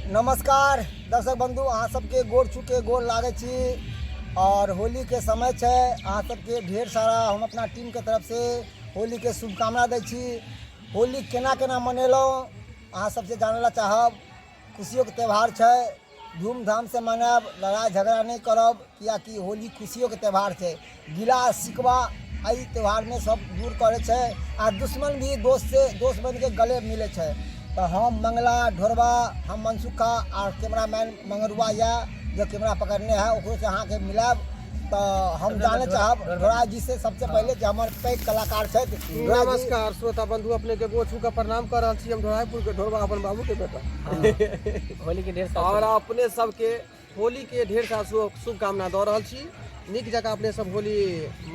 नमस्कार दर्शक बंधु अहाँ सबके गोर चुके गोर लागे छी और होली के समय छै अहाँ सबके ढेर सारा हम अपना टीम के तरफ से होली के शुभकामना दै छी होली केना केना मनेलहुँ अहाँ सबसे जानै लए चाहब खुशियोके त्यौहार छै धूमधामसँ मनायब लड़ाइ झगड़ा नहि करब किएकि होली खुशियोके त्यौहार छै गिला सिकवा एहि त्यौहारमे सब दूर करै छै आ दुश्मन भी दोस्तसँ दोस्त बनिके गले मिलै छै तऽ हम मंगला ढोरबा हम मनसुखा आ कैमरामैन मंगरुआ यऽ जे कैमरा पकड़ने है ओकरोसँ अहाँके मिलायब तऽ हम जानै चाहब ढोरा जी से सबसे पहिले जे हमर पैघ कलाकार छथि ढोरा जी- नमस्कार श्रोता बंधु अपने के गोर छू के प्रणाम कर रहल छी हम ढोरापुर के ढोरबा अपन बाबू के बेटा होली के ढेर सारा और अपने सबके होली के ढेर सारा शुभ- शुभकामना दऽ रहल छी नीक जकाँ अपने सब होली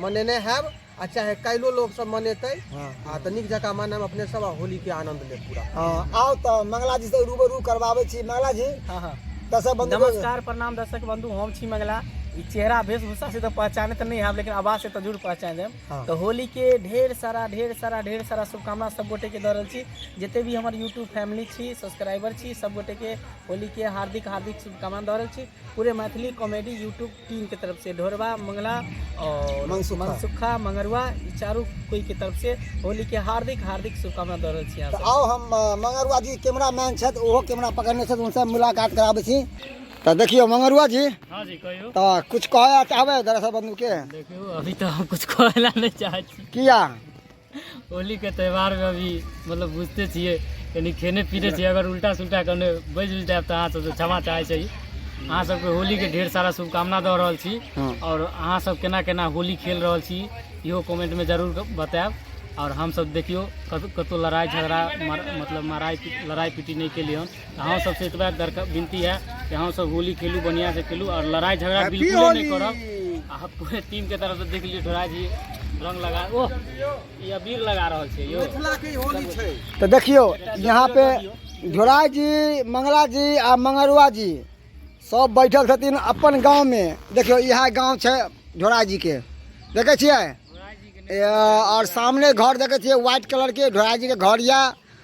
मनेने हैब आ चाहे काल्हिओ लोक सब मनेतै हाँ। आ तऽ नीक जकाँ मनाएब अपने सब आ होली के आनंद लेब पूरा हाँ, आओ तो मंगला जी से रूबरू करवावे छी मंगला जी हाँ हाँ दर्शक बंधु लोग- नमस्कार प्रणाम दर्शक बंधु हम छी मंगला ई चेहरा वेशभूषा से तो पहचाने तो नहीं है लेकिन आवाज से तो जरूर पहचान जाए तऽ होलीके ढेर सारा ढेर सारा ढेर सारा शुभकामना सब गोटेके दऽ रहल छी जते भी हमर यूट्यूब फैमिली छी सब्सक्राइबर छी सब गोटेके होलीके हार्दिक हार्दिक शुभकामना दऽ रहल छी पूरे मैथिली कॉमेडी यूट्यूब टीमके तरफसँ ढोरबा मंगला और मनसुखा। मनसुखा मंगरुआ ई चारू कोइके तरफसँ होलीके हार्दिक हार्दिक शुभकामना दऽ रहल छी अहाँ तऽ सबके। आउ हम अ, मंगरुआ जी कैमरा मैन छथि ओहो कैमरा पकड़ने छथि उनसे मुलाकात कराबै छी तो देखियो मंगरुआ जी हाँ जी कहियो तो कुछ कहे चाहबे दरअसल बंधु के देखियो अभी तो हम कुछ कहला नहीं चाहे छी किया होली के त्योहार में अभी मतलब बुझते छिए यानी खेने पीने छिए अगर उल्टा सुल्टा कने बज उज जाए तो अहाँ सब क्षमा चाहे छी अहाँ सबके होली के ढेर सारा शुभकामना दऽ रहल छी हाँ। और अहाँ सब केना केना होली खेल रहल छी इहो कमेंट में जरूर बताएब और हम सब देखियो कत- कतौ लड़ाई झगड़ा मर- मतलब माराई पी- लड़ाई पीटी नहीं केलिए हन अहाँ सबसे एतबा दरकार विनती है कि अहाँ सब होली खेलू बढ़िया से खेलू और लड़ाई झगड़ा बिल्कुल नहीं करब आ पूरे टीम के तरफ से देख लियो थोड़ा जी रंग लगा ओ ये अबीर लगा रहल छै यो मिथिला के होली छै तो देखियो यहाँ पे झोराय जी मंगला जी आ मंगरुआ जी सब बैठल छथिन अपन गांव में देखियो यह गांव छै झोराय जी के देखे छियै ए, और सामने घर देखे छियै व्हाइट कलर के झोराय जी के घर या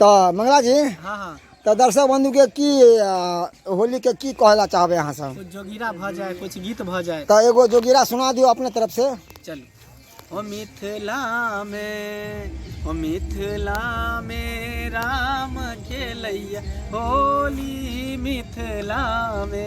तऽ मंगला जी हाँ हाँ तऽ दर्शक बंधु के की अ, होली के की कहला चाहबे अहाँ सब कुछ जोगिरा भऽ जाए कुछ गीत भऽ जाए तऽ एगो जोगिरा सुना दियो अपने तरफ से चलू ओ मिथिला मे ओ मिथिला मे राम खेलैया होली मिथिला मे